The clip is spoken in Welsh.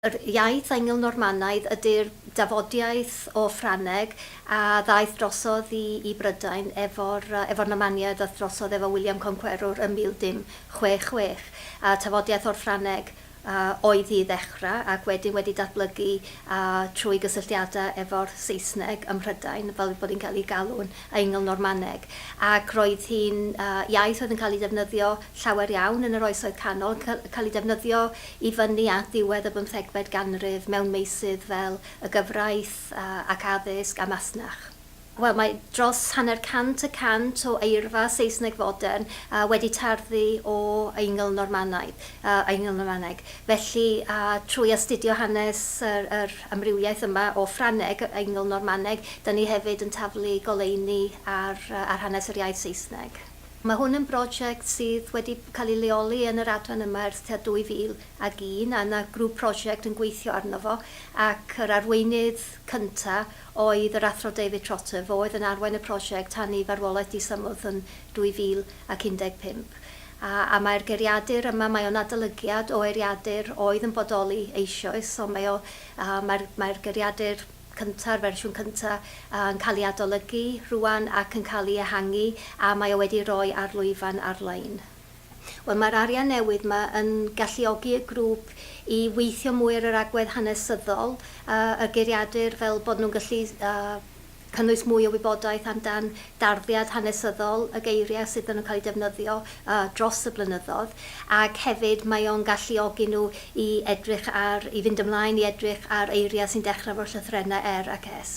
Yr iaith Eingl-Normanaidd ydy'r dafodiaith o Ffrangeg a ddaeth drosodd i Brydain efo'r Normaniaid ddaeth drosodd efo William Conqueror yn 1066, a tafodiaith o'r Ffrangeg oedd hi i ddechrau ac wedyn wedi datblygu trwy gysylltiadau efo'r Saesneg ym Mhrydain fel bod hi'n cael ei galw'n Eingl-Normaneg ac roedd hi'n iaith oedd yn cael ei defnyddio llawer iawn yn yr Oesoedd Canol, cael ei defnyddio i fyny at ddiwedd y bymthegfed ganrif mewn meysydd fel y gyfraith ac addysg a masnach. Wel, mae dros hanner cant y cant o eirfa Saesneg fodern wedi tarddu o Eingl Normanaidd, Eingl Normaneg. Felly, trwy astudio hanes yr amrywiaeth yma o Ffrangeg, Eingl Normaneg, 'da ni hefyd yn taflu goleuni ar hanes yr iaith Saesneg. Mae hwn yn brosiect sydd wedi cael ei leoli yn yr adran yma ers tua 2001 a 'na grŵp prosiect yn gweithio arno fo ac yr arweinydd cynta' oedd yr Athro David Trotter, fo oedd yn arwain y prosiect tan i farwolaeth disymwth yn 2015. A a mae'r geiriadur yma, mae o'n adolygiad o eiriadur oedd yn bodoli eisioes, so mae o a mae'r mae'r geiriadur cynta'r fersiwn cynta, yn cael ei adolygu rŵan ac yn cael ei ehangu a mae o wedi rhoi ar lwyfan ar-lein. Wel, mae'r arian newydd yma yn galluogi y grŵp i weithio mwy ar yr agwedd hanesyddol, y geiriadur, fel bod nhw'n gallu cynnwys mwy o wybodaeth amdan darddiad hanesyddol y geiriau sydd ddim yn cael eu defnyddio dros y blynyddoedd, ac hefyd mae o'n galluogi nhw i edrych ar, i fynd ymlaen i edrych ar eiriau sy'n dechrau efo'r llythrennau er ac es.